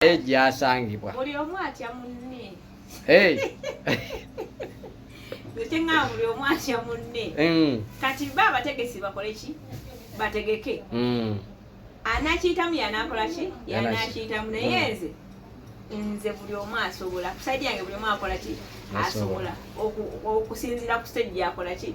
naye gyasangibwa buli omu atya munne kyeŋŋamba buli omu atya munne mm. kati ba abategesi bakole ki bategeke mm. anakiyitamu yanakola ki yanakiyitamu naye mm. nze nze buli omu asobola kusaidi yange buli omu akola ki asobola okusinzira ku stage yakola ki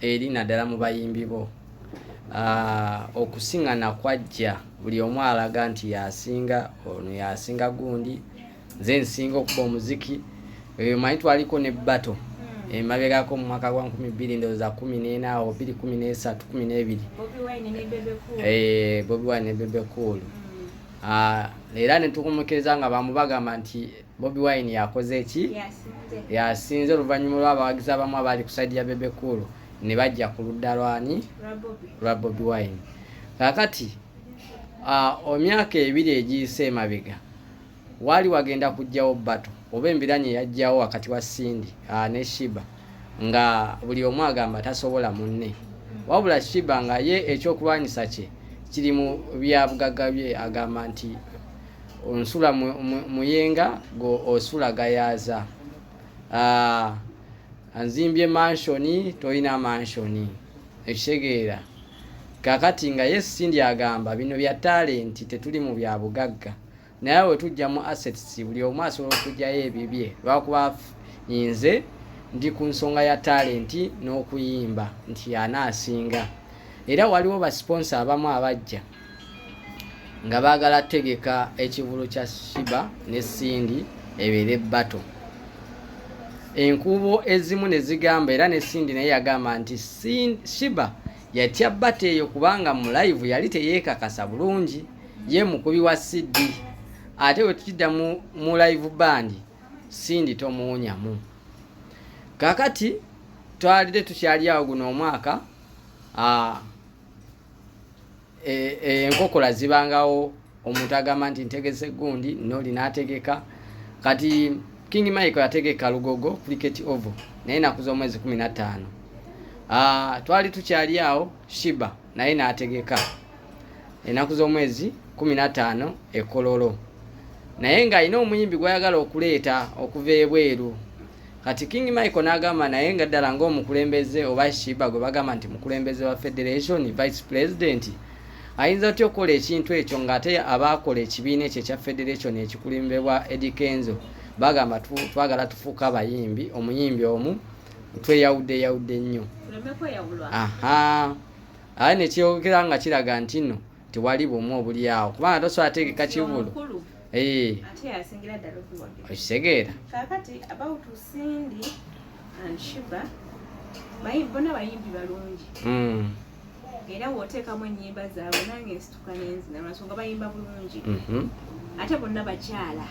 eri naddala mu bayimbi bo ah, okusingana kwajja buli omu alaga nti yasinga ono yasinga gundi nze nsinga okuba omuziki eyo manyi twaliko ne bato hmm. emabegako mu mwaka gwa nkumi bbiri ndowooza kumi n'ena awo bbiri kumi n'esatu kumi n'ebiri bobi wine ne bebe eh, cool hmm. ah, era netukumukiriza nga bamubagamba nti Bobi Wine yakoze eki yasinze oluvannyuma lw'abawagizi abamu abaali ku saidi ya Bebe Cool ne bajja ku ludda lwani lwa Bobi Wine. Kakati omyaka ebiri egiyise emabega waali wagenda kujjawo bato oba embiranye yajjawo wakati wa Cindy ne Shiba nga buli omu agamba tasobola munne wabula Shiba nga ye ekyokulwanyisa kye kiri mu byabugagga bye agamba nti onsula muyenga go osula gayaza ah, anzimbye manshoni tolina manshoni ekitegeera kakati nga yesu sindi agamba bino bya talenti tetuli mu bya bugagga naye we tujja mu assets buli omu asobola okugyayo ebibye lwakuba nze ndi ku nsonga ya talenti n'okuyimba nti anaasinga era waliwo basponsa abamu abajja nga baagala tegeka ekivulu kya shiba ne sindi ebeere bato enkuubo ezimu ne zigamba era ne sindi naye yagamba nti shiba yatya bata eyo kubanga mu live yali teyeekakasa bulungi ye mukubi wa cd ate bwe tukidda mu live bandi sindi tomuwunyamu kakati twalide tukyali awo guno omwaka e, e, enkokola e, zibangawo omuntu agamba nti ntegese gundi noli nategeka kati king mike yategeka lugogo cricket oval naye nakuza omwezi kumi na ttaano ah, twali tukyali awo shiba naye nategeka enaku z'omwezi kumi na ttaano ekololo naye ng'alina omuyimbi gwayagala okuleeta okuva ebweru kati king michael n'agamba naye nga ddala ng'omukulembeze oba shiba gwe bagamba nti mukulembeze wa federation vice president ayinza atya okukola ekintu ekyo ng'ate abaakola ekibiina ekyo ekya federation ekikulimbebwa edikenzo bagamba twagala tufuuka abayimbi omuyimbi omu tweyawudde yawudde nnyo aha aye nekyeyogera nga kiraga nti no tewali bumu obulyawo kubanga tosobola ategeka kivulu eh. okitegeera bona bayimbi balungi hmm. era woteekamu enyimba zaabwe nange nsituka nenzina lwansonga bayimba bulungi mhm. ate bonna bakyala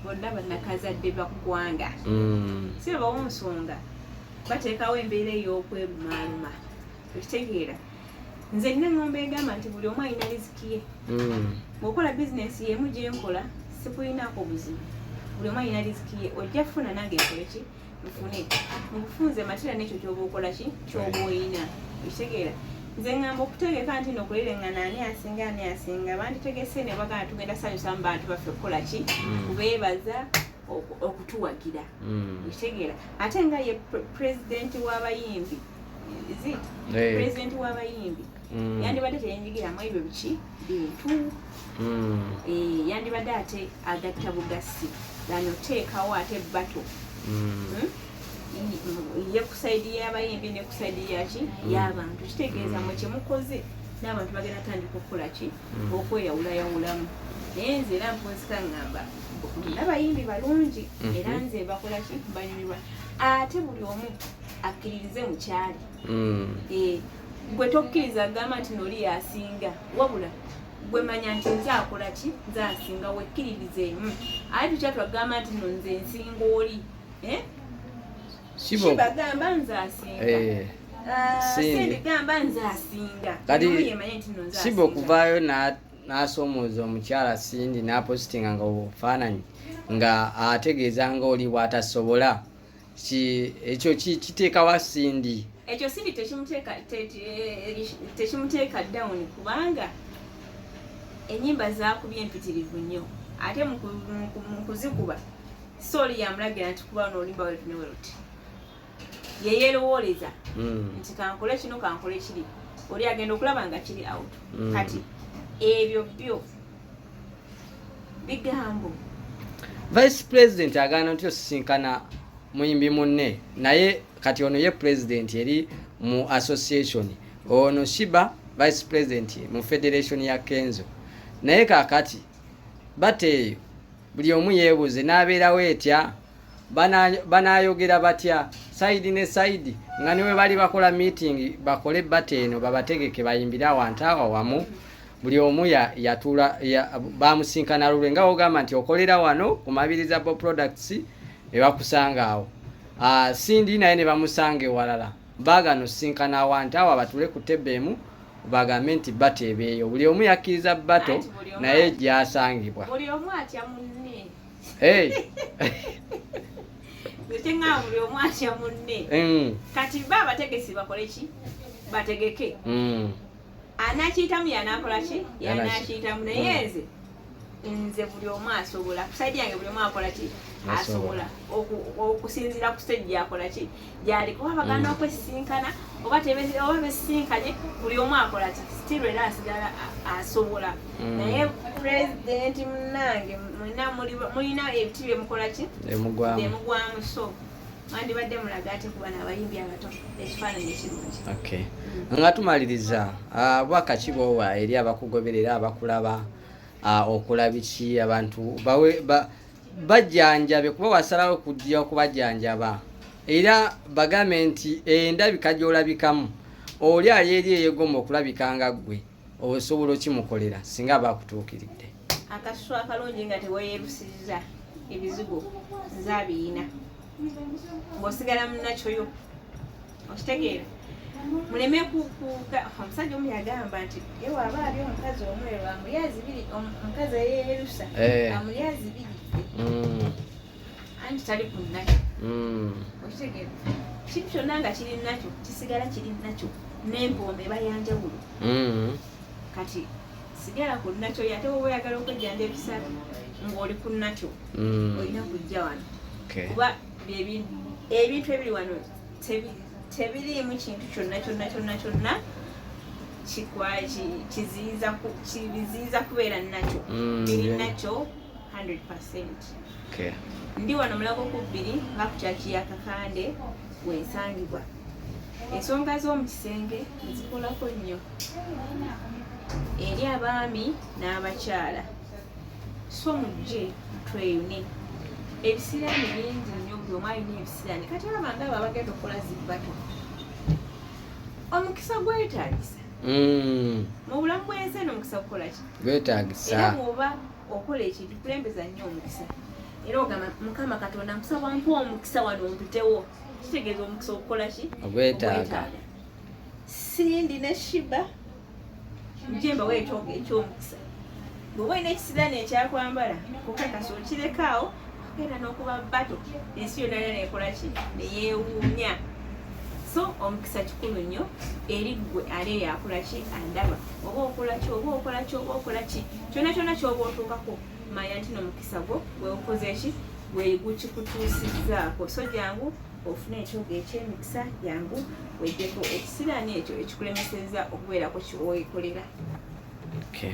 bonna banakazadde bakukwanga hmm. si bebawo nsonga bateekawo embeera ey'okwebumaaluma okitegeera nze nina eŋŋombo egamba nti buli omu alina riziki ye hmm. ngaokola bizinensi yemu gyenkola sikulinaako buzibu buli omu alina riziki ye ojja kufuna nange ekole ki nfune mubufunze matira nekyo kyoba okola ki kyoba oyina okitegeera nze ŋŋamba okutegeka nti no okulereŋŋana ani asinga ani asinga banditegese ne bagana tugenda sanyusamu bantu baffe okukola ki hmm. kubeebaza mm. okutuwagira mm. ekitegeera ate nga ye pulezidenti w'abayimbi zit eh. pulezidenti w'abayimbi mm. yandibadde teyenjigiramu ebyo biki bintu mm. eh, yandibadde ate agatta bugassi gano teekawo ate bato hmm? ye kusaidi y'abayimbi ne kusaidi yaki y'abantu kitegeeza mwe kyemukoze n'abantu bagenda tandika okukola ki okweyawulayawulamu naye nze era nkunsika ngamba nabayimbi balungi mhm. era nze bakola ki banyumirwa ate buli omu akkiririze mukyali mm. eh, gwe tokkiriza gamba nti noli yasinga wabula gwe manya nti nze akola ki nze asinga wekkiririzeemu aye tukyatwagamba nti no nze nsinga oli eh? Shibo bagamba nze asinga. Eh. Ah, Sindi gamba nze asinga. Kati Shibo kuvaayo na n'asomooza omukyala Sindi n'apositinga nga obufaananyi nga ategeeza nga oli bw'atasobola ekyo kiteekawa Sindi ekyo Sindi tekimuteeka tekimuteeka down kubanga ennyimba zaakubye empitirivu nnyo ate mu kuzikuba Soli yamulagira nti kuba no olimba wetu ne weruti. Yeyerowooleza mm. nti kankole kino kankole kiri. Oli agenda okulaba nga kiri out. Mm. Kati ebyo byo bigambo. Vice President agaana nti osisinkana muyimbi munne naye kati ono ye president eri mu association ono Shiba vice president mu federation ya Kenzo naye kakati bateeyo buli omu yeebuuze n'abeerawo etya banaayogera batya sayidi ne sayidi nga ne bwe bali bakola miitingi bakole bata eno babategeke bayimbire awantu awa wamu buli omu yatuula bamusinkana lulwe nga wogamba nti okolera wano ku mabiriza bo products ne bakusanga awo ah, sindi naye ne bamusanga ewalala baagana osisinkana awantu awo abatule ku tebbe emu bagambe nti bato ebeeyo buli omu yakkiriza bato naye gyasangibwa kati ba abategesi bakoleki bategeke mm. anakiyitamu yanakola ki yanakiyitamu naye hmm. nze nze buli omu asobola kusaidi yange buli omu akola ki asobola okusinzira ku stage gyakola ki gyali kuba bagana hmm. okwesisinkana oba oba besisinkanye buli omu akola ki still era asigala asobola hmm. naye pulezidenti munange mulina ebiti byemukola ki bemugwamu so mwandibadde mulaga ate kuba nabayimbi abato ekifaananyi ekirungi okay mm. nga tumaliriza ah, bwaka ki bwowa eri abakugoberera abakulaba ah, okulabiki abantu bawe bajjanjabe kuba wasalawo kujja okubajjanjaba era bagambe nti endabika gyolabikamu oli ali eri eyegoma okulabika nga ggwe osobola okimukolera singa aba akutuukiridde akasusu akalungi nga teweyerusiza ebizigo nze abiyina ngaosigala munakyoyo okitegeera muleme omusajja omu yagamba nti ewaba ali omukazi omweru amulyazi biri omukazi eyerusa eh. amulyazi biri mm. anti tali ku nakyo mm. okitegeera kintu kyonna nga kiri nakyo kisigala kiri nakyo n'empomba eba yanjawulo mm. kati sigala ku nakyo yate woba oyagala okwejjanja ebisatu ng'oli ku nakyo mm. olina kujja wano kuba ebintu ebiri wano tebiriimu kintu kyonna kyonna kyonna kyonna kiziiza kubeera nakyo biri nakyo Okay. Ndi wano mulago ku bbiri nga ku kyaki ya Kakande wensangibwa. Ensonga z'omu kisenge nzikolako nnyo eri abaami n'abakyala so mujje tweyune ebisiraani bingi nnyo buli omu alina ebisiraani kati olaba nga abo abagenda okukola zibbato omukisa gwetagisa mm. mu bulamu bwensi eno omukisa gukolaki gwetagisa era bwoba okola ekintu kulembeza nnyo omukisa era ogamba mukama katonda nkusaba mpa omukisa wano ontutewo kitegeeza omukisa okukola ki ogwetaaga sindi ne shiba njemba weetooga ekyomukisa bweoba olina ekisiraani ekyakwambala kukakasa okireka awo genda nokuba bato ensi yona yona nekolaki neyewuunya so omukisa kikulu nnyo eri ggwe ali eyo akolaki andaba oba okolaki oba okolaki oba okolaki kyona kyona kyoba otuukako manya nti nomukisa gwo gweukozeki gwegukikutuusizzaako so jangu ofune ekyoga ekyemikisa jangu wejjeko ekisiraani ekyo ekikulemeseza okubeerako kyowekolera okay.